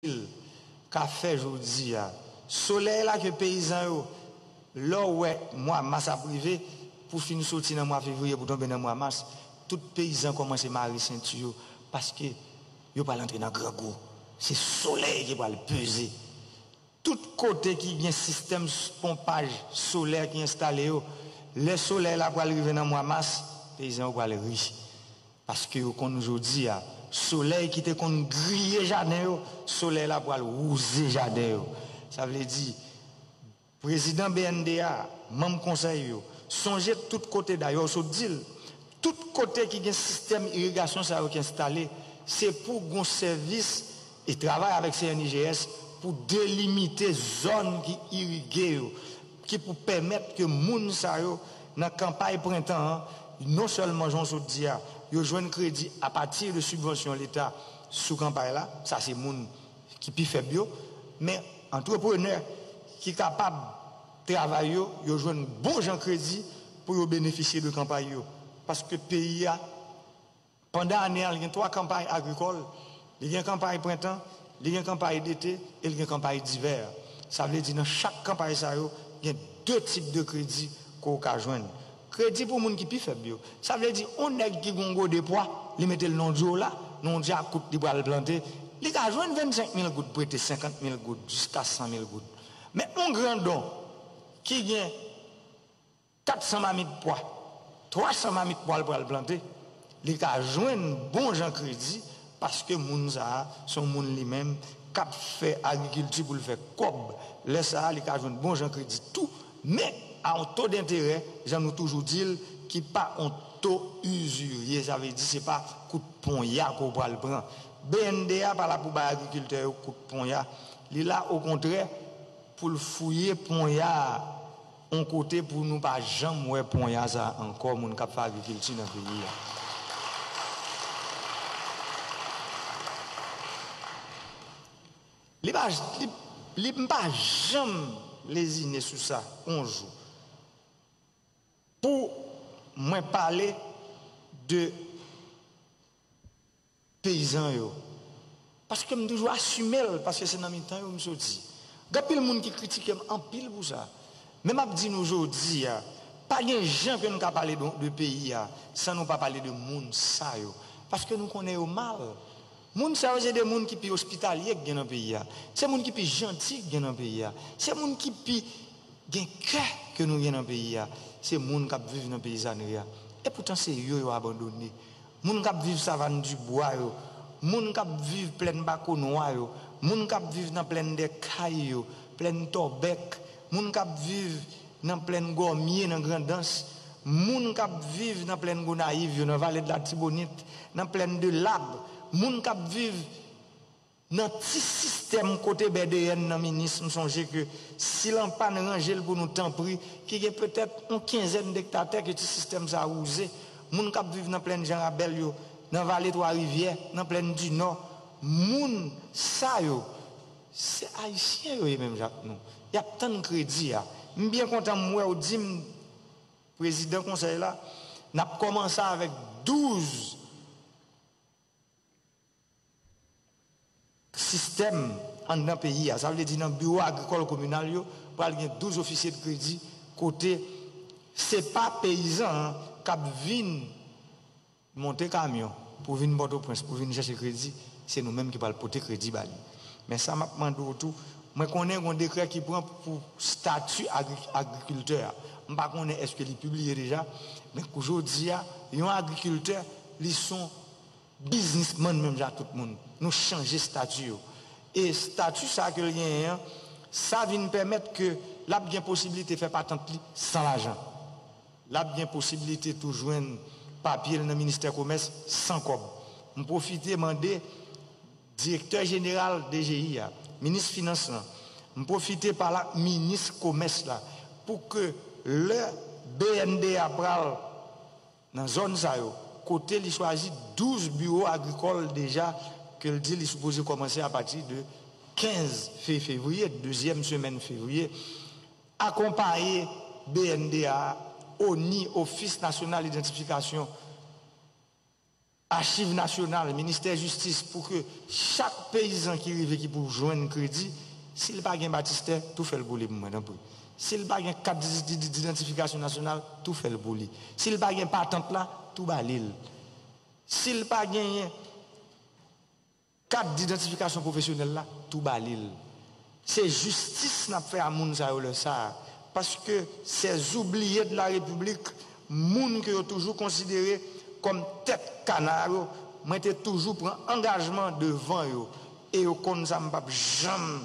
pil ka fè jodia solèy la ke peyizan yo lè w wè mwa mas ap rive pou fin soti nan mwa fevriye pou tonbe nan mwa mas tout peyizan kòmanse mare senti yo paske yo pral antre nan grangou se solèy ki pral peze tout kote ki gen sistèm ponpaj solè ki enstale yo lè solèy la pral rive nan mwa mas peyizan yo pral ri. Paske yo konn jodi a, solèy ki te konn griye jaden yo, solèy la pral wouze jaden yo. Sa vle di, prezidan BNDA, manm konsèy yo, sonje tout kote, dayè w sot di l, tout kote ki gen sistèm irigasyon sa yo ki enstale, se pou gon sèvis e travay avèk CNIGS pou delimite zòn ki irige yo. ki pou pèmèt ke moun sa yo nan kanpay prentan an non sèlman jan w sot di a yo jwenn kredi apati de sibvansyon leta sou kanpay la, sa se moun ki pi fèb yo, men antreprenè ki kapab travay yo, yo jwenn bon jan kredi pou yo benefisye de kanpay yo paske peyi a. Pandan ane a, li gen twa kanpay agrikòl, li gen kanpay prentan, li gen kanpay dete e li gen kanpay divè. Sa vle di nan chak kanpay sa yo, gen de tip de kredi ke w ka jwenn. Kredi pou moun ki pi fèb yo. Sa vle di yon nèg ki gen yon gode pwa, li mete l nan yon dyo la, nan yon dyakout li pral plante, li ka jwenn 25 mil goud prete, 50 mil goud, jiska 100 mil goud. Men yon grandon ki gen. 400 mamit pwa, 300 mamit pwa l pral plante, li ka jwenn bon jan kredi paske moun sa a se yon moun li menm k ap fè agrikilti pou l fè kòb, lè sa a li ka jwenn bon jan kredi tou men a yon to denterè jan nou toujou di l ki pa yon to usurier sa vle di se pa kout ponya ke w pral pran. BNDE a pa la pou bay agrikiltè yo kout ponya, li la okontrè pou l fouye ponya a. On kote pou nou pa janm wè ponya sa ankò moun kap fè agrikilti nan peyi a. Li pa li m pa janm lezine sou sa on jou pou mwen pale de. Peyizan yo. Paske m toujou asime l, paske se nan mitan yo m soti. Gen anpil moun ki kritike m anpil pou sa. Men m ap di nou jodi a, pa gen jan ke nou ka pale de peyi a san nou pa pale de moun sa yo. Paske nou konnen yo mal. Moun sa yo se de moun ki pi ospitalye ki gen nan peyi a. Se moun ki pi janti ki gen nan peyi a. Se moun ki pi gen kè ke nou gen nan peyi a. Se moun k ap viv nan peyizanri a. Epoutan se yo yo abandone. Moun k ap viv savann dibwa yo, moun k ap viv plèn Bakonwa yo, moun k ap viv nan plèn Dè Kay yo, plèn Tòbèk, moun k ap viv nan plèn Gòmye nan Grandans, moun k ap viv nan plèn Gonayiv yo, nan Vale de l'Artibonite, nan plèn Delab, moun k ap viv. Nan ti sistèm kote bèdeyèn nan minis m sonje ke si l anpàn ranje l pou nou tanpri ki gen petèt on kenzèn dektatè ke ti sistèm sa wouze moun k ap viv nan plenn Janrabèl yo nan vale twa rivyè nan plenn dinò moun sa yo se ayisyen yo ye menm jan ak nou y ap tann kredi a m byen kontan m wè w di m prezidan konsèy la n ap kòmanse avèk 12. sistèm anndan peyi a. Sa vle di nan biwo agrikòl kominal yo pral gen 12 ofisye de kredi kote se pa peyizan an k ap vin monte kamyon pou vin Pòtoprens pou vin chèche kredi, se nou menm ki pral pote kredi ba li. Men sa m ap mande w tou, mwen konnen gon dekrè ki pran pou stati agrikiltè a, m pa konnen èske li pibliye deja, men kou jodi a yon agrikiltè li s on. Biznisman menm jan ak tout moun, nou chanje stati yo. E stati sa ke l genyen an, sa vin pèmèt ke l ap gen posibilite fè patant li san lajan. L ap gen posibilite tou jwenn papye l nan ministè komès san kòb. M pwofite mande direktè jeneral DGI a, minis finans lan, m pwofite pale ak minis komès la pou ke lè bnda pral. Nan zòn sa yo, kote li chwazi 12 biwo agrikòl deja ke l di li sipoze kòmanse apati de 15 fe fevriye, dezyèm semèn fevriye, akonpaye BNDA, ONI, Ofis Nasyonal Idantifikasyon. Achiv Nasyonal, Ministè Jistis pou ke chak peyizan ki rive ki pou jwenn kredi, si l pa gen batistè, tou fè l pou li pou mwen tanpri. Si l pa gen kat didantifikasyon nasyonal, tou fè l pou li. Si l pa gen patant la, tou ba li l. Si l pa genyen. Kat didantifikasyon pwofesyonèl la tou ba li l. Se jistis nap fè a moun sa yo lè sa a, paske sè zoubliye de la repiblik, moun ke yo toujou konsidere kòm tèt kana yo, mwen te toujou pran angajman devan yo, e yo konn sa m pap janm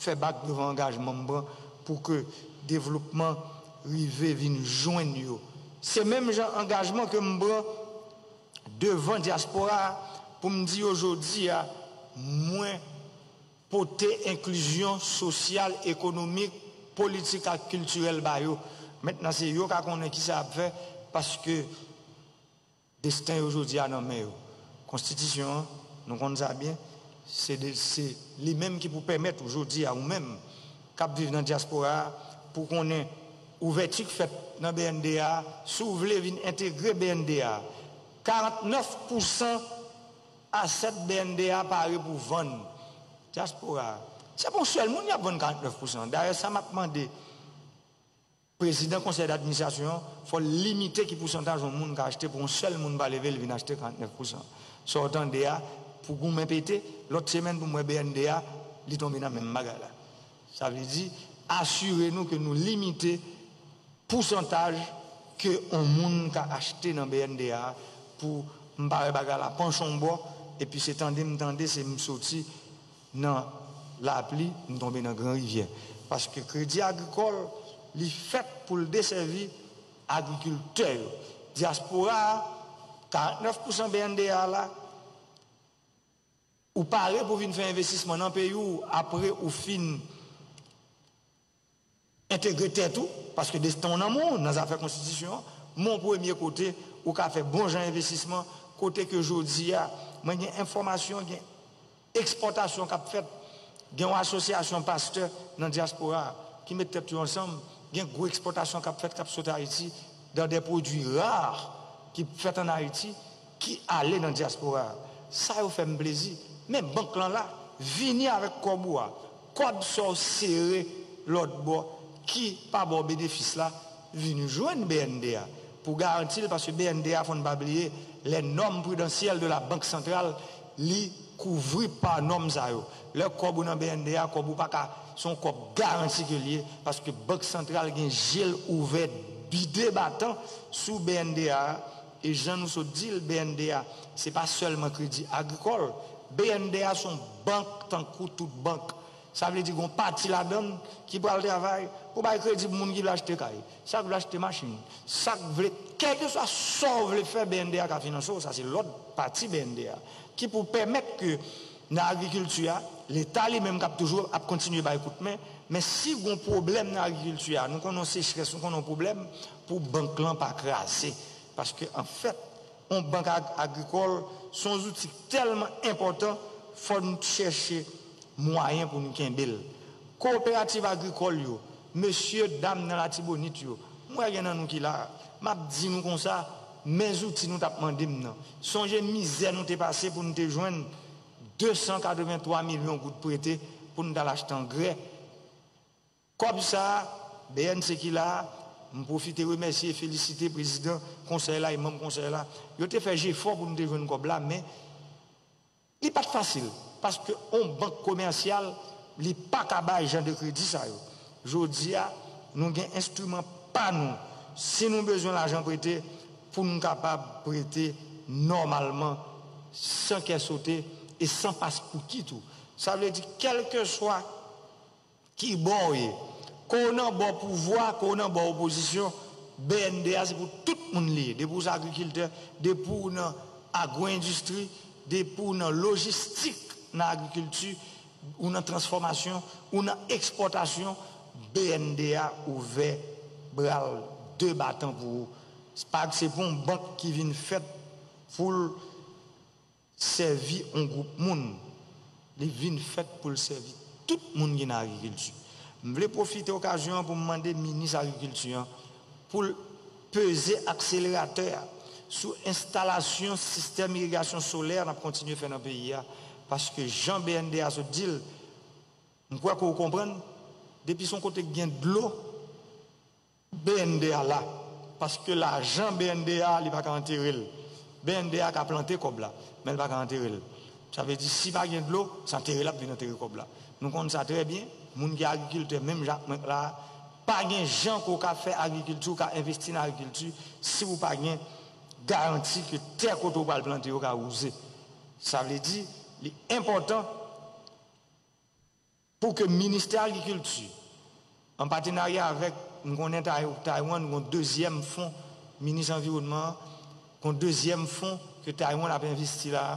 fè bak devan angajman m pran pou ke devlopman rive vin jwenn yo. Se menm jan angajman ke m pran. devan dyaspora a pou m di yo jodi a mwen pote enklizyon sosyal, ekonomik, politik ak kiltirèl ba yo. Mentnan se yo ka konnen ki sa y ap fè paske desten yo jodi a nan men yo. Konstitisyon an, nou konn sa byen, se li menm ki pou pèmèt ou jodi a ou menm, k ap viv nan dyaspora a pou w konnen ouvèti k fèt nan bnd a si w vle vin entegre bnd a 49 pousan asèt bnd a pare pou vann dyaspora a se pa yon sèl moun y ap vann 49 pousan dayè sa m ap mande Prezidan konsèy d'administrasyon an, fò l limite ki pousantaj yon moun ka achte pou yon sèl moun pa leve l vin achte 49 pousan. Sa w tande a, pou goumen pete, lòt semèn pou m wè BNDA, li tonbe nan menm bagay la. Sa vle di, asire nou ke nou limite pousantaj ke yon moun ka achte nan BNDA a pou m pa wè bagay la panche yon bò, epi se tande m tande, se m soti. Nan lapli, m tonbe nan gran rivyè. Paske Kredi Agrikòl, li fèt pou l desèvi agrikiltè yo. Dyaspora a, 49 pousan BNDA a la, ou pare pou vin fè envestisman nan peyi w apre ou fin Entegre tèt ou, paske desten w nan men w nan zafè konstitisyon an, men yon premye kote ou ka fè bon jan envestisman, kote ke jodi a mwen gen enfòmasyon gen ekspòtasyon k ap fèt, gen yon asosyasyon pastè nan dyaspora a ki met tèt yo ansanm, gen gwo ekspòtasyon k ap fèt k ap sot Ayiti dan dè pwodui rare ki fèt an Ayiti. ki ale nan diaspora a sa yo fèm plezi men bank lan la vini avèk kòb ou a kòb saw sere lòt bò ki pa baw benefis la vini jwenn bnd a pou garantil paske bnd a fòn pa bliye lè nòm pridansyèl de la bank santral li kouvri pa nòm sa yo lè kòb ou nan bnd a kòb ou paka son kòb garanti ke liye paske bank santral gen jel ouvè bide batan sou bnd a. E jan nou sot di l, bnd a se pa sèlman kredi agrikòl. Bnd a se yon bank tankou tout bank. Sa vle di gen yon pati ladan l ki pral travay pou bay kredi pou moun ki vle achte kay, sa k vle achte machin, sa k vle, kèlkeswa sa w vle fè bnd a ka finanse w, sa se lòt pati bnd a ki pou pèmèt ke nan agrikilti a, leta li menm k ap toujou ap kontinye bay kout men, men si gen yon pwoblèm nan agrikilti a, nou konnen yon sechrès, nou konnen yon pwoblèm. pou bank lan pa kraze paske an fèt yon bank agrikòl se yon zouti ki tèlman enpòtan fò n chèche mwayen pou n kenbe l kowoperativ agrikòl yo mesye dam nan latibonit yo m wè gen nan nou ki la a m ap di nou konsa men zouti nou t ap mande m nan sonje mizè nou te pase pou n te jwenn 283 milyon goud prete pou n t al achte angrè. Kòb sa a, bnse ki la a, m pwofite remèsye e felisite prezidan konsèy la e manm konsèy la, yo te fè jefò pou nou te jwenn kòb la men li pa t fasil paske yon bank komèsyal li pa ka bay jan de kredi sa yo. Jodi a, nou gen enstriman pa nou si nou bezwen lajan prete pou nou kapab prete nòmalman san kè sote e san paspouki tou. Sa vle di kèlkeswa Ki bò w ye? Ke w nan bò pouvwa, ke w nan bò opozisyon, bnd a se pou tout moun li ye. Depi w se agrikiltè, depi w nan agwoendistri, depi w nan lojistik nan agrikilti, ou nan transfòmasyon, ou nan ekspòtasyon, bnd a ouvè bra l de batan pou ou. Se pa se pou yon bank ki vin fèt pou l. Sèvi on gwoup moun, li vin fèt pou l sèvi tout moun ki nan agrikilti. M vle pwofite okazyon an pou m mande minis agrikilti an pou l peze akseleratè a sou enstalasyon sistèm irigasyon solè n ap kontinye fè nan peyi a paske jan bnd a sot di l, m kwè ke w konprann, depi s on kote k gen dlo, BNDE a la paske lajan BNDE a li pa ka antere l. BNDE a ka plante kòb la men l pa ka antere l. Sa vle di si pa gen dlo se antere l ap vin antere kòb la. Nou konn sa trè byen, moun ki agrikiltè menm jan ak mwen la a, pa gen jan ke w ka fè agrikilti, w ka envesti nan agrikilti si ou pa gen garanti ke tè kote ou pral plante yo ka wouze. Sa vle di li enpòtan. Pou ke Ministè Agrikilti, an patenarya avèk, m konnen Taiwan gon dezyèm fon, Minis Anviwònman an, gon dezyèm fon ke Taiwan ap envesti la a,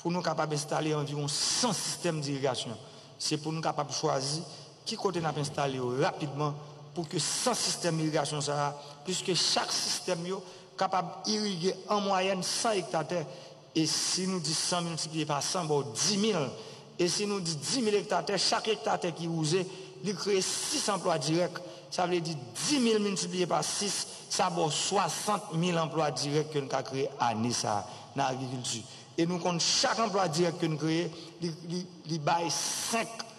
pou nou kapab enstale anviwon 100 sistèm dirigasyon. Se pou nou kapab chwazi ki kote n ap enstale yo rapidman pou ke 100 sistèm irigasyon sa a, piske chak sistèm yo kapab irige an mwayèn 100 ekta tè, E si nou di 100 miltipliye pa 100 ba w 10 mil. E si nou di 10 mil ekta tè, chak ekta tè ki wouze, li kreye 6 anplwa dirèk. Sa vle di 10 mil miltipliye pa 6, sa ba w 60 mil anplwa dirèk ke n ka kreye ane sa a nan agrikilti. E nou konn chak anplwa dirèk ke n kreye, li bay 5.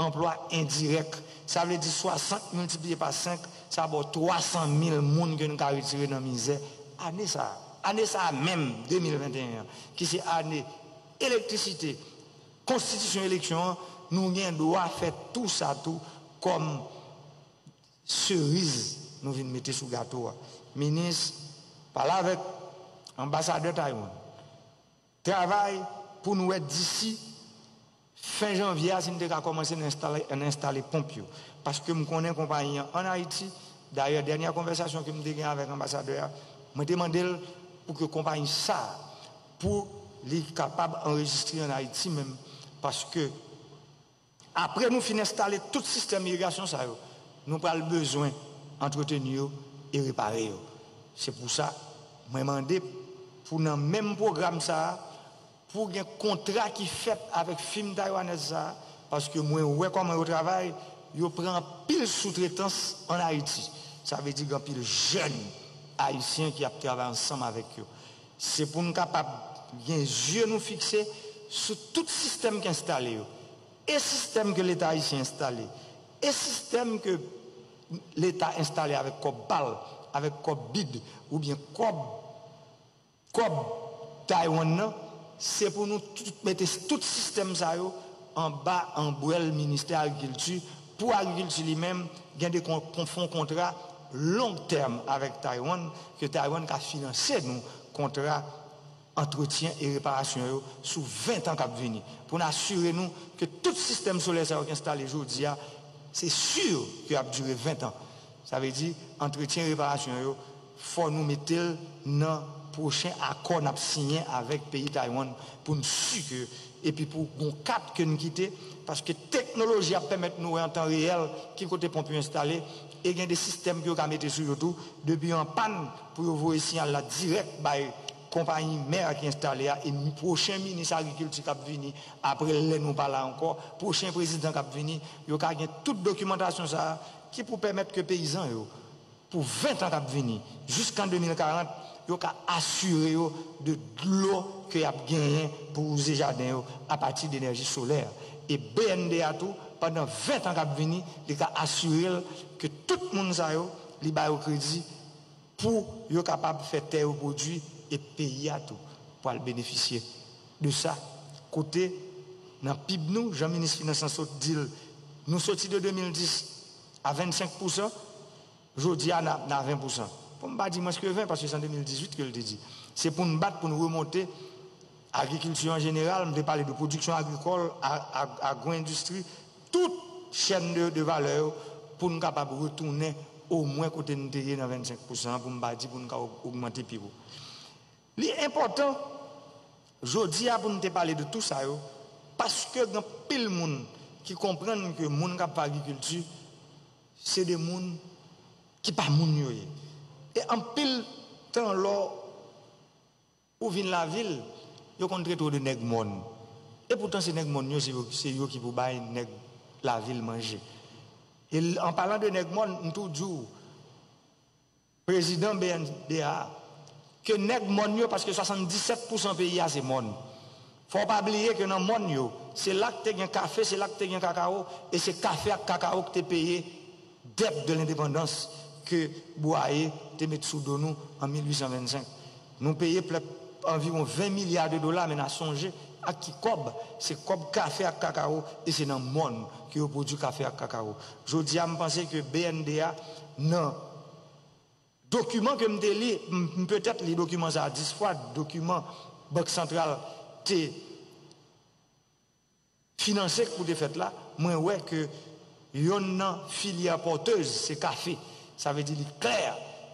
Anplwa endirèk, sa vle di 60 miltipliye pa 5, sa ba w 300 mil moun ke nou ka retire nan mizè ane sa a. Ane sa a menm, 2021 an, ki se ane elektrisite, konstitisyon eleksyon an, nou gen dwa fè tou sa tou kòm seriz nou vin mete sou gato a. Minis, pale avèk Anbasadè Taiwan. Travay pou nou wè disi fen janvye a si nou te ka kòmanse nan enstale ponp yo. Paske m konnen konpayi an ann Ayiti, dayè dènyè konvèsasyon ke m te gen avèk anbasadè a, mwen te mande l pou ke konpayi sa a, pou li kapab anrejistre ann Ayiti menm, paske. Apre nou fin enstale tout sistèm irigasyon sa yo, nou pral bezwen antreteni yo e repare yo. Se pou sa, mwen mande pou nan menm pwogram sa a, pou gen kontra ki fèt avèk fim taywanèz sa a, paske mwen wè kòman yo travay, yo pran anpil soutretans ann Ayiti. Sa vle di gen anpil jèn ayisyen ki ap travay ansanm avèk yo. Se pou n kapab gen zye nou fikse sou tout sistèm k enstale yo, e sistèm ke Leta ayisyen enstale, e sistèm ke Leta enstale avèk kòb pa l, avèk kòb bid oubyen kòb kòb Taiwan nan, se pou nou tout mete tout sistèm sa yo anba anbrèl Ministè Agrikilti, pou Agrikilti li menm gen de fon kontra. long tèm avèk Taiwan ke Taiwan ka finanse nou kontra antretyen e reparasyon yo sou 20 tan k ap vini pou n asire nou ke tout sistèm solè sa yo k enstale jodi a se sur ke y ap dire 20 tan. Sa vle di antretyen e reparasyon yo fò nou mete l nan pwochen akò n ap siyen avèk peyi Taiwan pou n si ke epi pou gon kat ke n kite paske teknoloji ap pèmèt nou wè an tan reyèl ki kote ponp yo enstale E gen de sistèm ke yo ka mete sou yo tou, depi yo an pàn pou yo voye siyal la dirèk bay konpayi mè a ki enstale a e pwochen minis agrikilti kap vini apre lè nou pa la ankò, pwochen prezidan kap vini, yo ka gen tout dokimantasyon sa a ki pou pèmèt ke peyizan yo pou 20 tan kap vini, jiskan 2040, yo ka asire yo de dlo ke yap genyen pou wouze jaden yo apati de enèji solè. E bnda tou. pandan 20 tan k ap vini, li ka asire l ke tout moun sa yo, li ba yo kredi pou yo kapab fè tè yo pwodui e peyi a tou pwal benefisye de sa. Kote nan pib nou, jan minis finans lan sot di l, nou soti de 2010 a 25 pousan, jodi a nan a 20 pousan. Pou m pa di mwens ke 20, paske se an 2018 ke l te di. Se pou n bat pou n remonte. Agrikilti an jeneral, m te pale de pwodiksyon agrikòl, agwoendistri, tout chèn de valè yo pou n kapab retounen omwen kote n te ye nan 25 pousan an, pou m pa di pou n ka ogmante pi wo. Li enpòtan jodi a pou n te pale de tou sa yo paske gen anpil moun ki konprann ke moun k ap fè agrikilti se de moun ki pa moun yo ye e anpil tan lò Ou vin lavil, yo konn trete w de nèg mòn. Epoutan se nèg mòn yo se yo ki pou bay nèg lavil manje. E an palan de nèg mòn, m tou di w prezidan BNDA ke nèg mòn yo paske 77 pousan peyi a se mòn. Fò w pa bliye ke nan mòn yo, se la k te gen kafe, se la k te gen kakawo e se kafe ak kakawo k te peye Dèt de lendepandans ke Bwaye te met sou do nou an 1825. Nou peye plèp anviwon 20 milya de dola men na sonje ak ki kòb, se kòb kafe ak kakawo e se nan mòn ke yo pwodwi kafe ak kakawo. Jodi a m panse ke bnd a nan dokiman ke m te li, m petèt li dokiman sa a 10 fwa, dokiman Bank Santral te. Finanse k pou te fèt la, mwen wè ke yonn nan filyè pòtez se kafe. Sa vle di li klè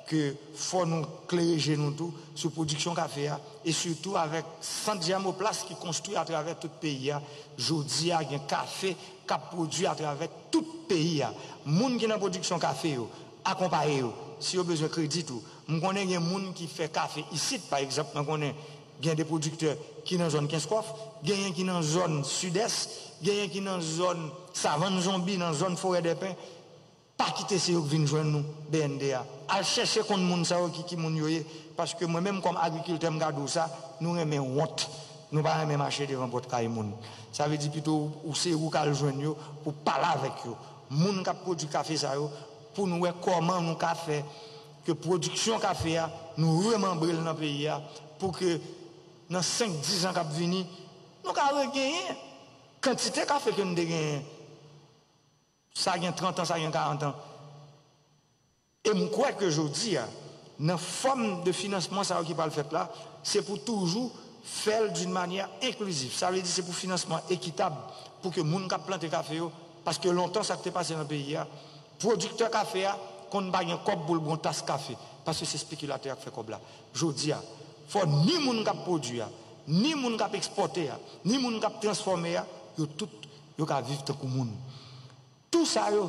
ke fò nou klere je nou tou sou pwodiksyon kafe a e sitou avèk sant jèmoplas ki konstwi atravè tout peyi a. Jodi a gen kafe k ap pwodwi atravè tout peyi a. Moun ki nan pwodiksyon kafe yo, akonpaye yo. Si yo bezwen kredi tou. M konnen gen moun ki fè kafe isit, pa egzanp mwen konnen. Gen de pwodiktè ki nan zòn Kenskòf, genyen ki nan zòn Sidès, genyen ki nan zòn Savann Zonbi, nan zòn Forèdèpen. Pa kite se yo k vin jwenn ou, BNDA. Al chèche konn moun sa yo ki ki moun yo ye, paske mwen menm kòm agrikiltè m ka di w sa, nou renmen wont, nou pa renmen mache devan pòt kay moun. Sa vle di pito ou se ou k al jwenn yo pou w pale avèk yo, moun k ap pwodui kafe sa yo, pou nou wè kòman nou ka fè. Ke pwodiksyon kafe a, nou remanbre l nan peyi a pou ke nan senk, dizan k ap vini, nou ka regenyen kantite kafe ke nou te genyen sa gen trantan, sa gen karantan. E m kwè ke jodi a, nan fòm de finansman sa yo ki pral fèt la, se pou toujou fè l d'une manière inclusive. Sa vle di se pou finansman ekitab pou ke moun k ap plante kafe yo, paske lontan sa k te pase nan peyi a, Pwodiktè kafe a konn pa gen kòb pou l bon tas kafe paske se spekilatè y ap fè kòb la. Jodi a, fò ni moun k ap pwodui a, ni moun k ap ekspòte a, ni moun k ap transfòme a, yo tout yo ka viv tankou moun. Tou sa yo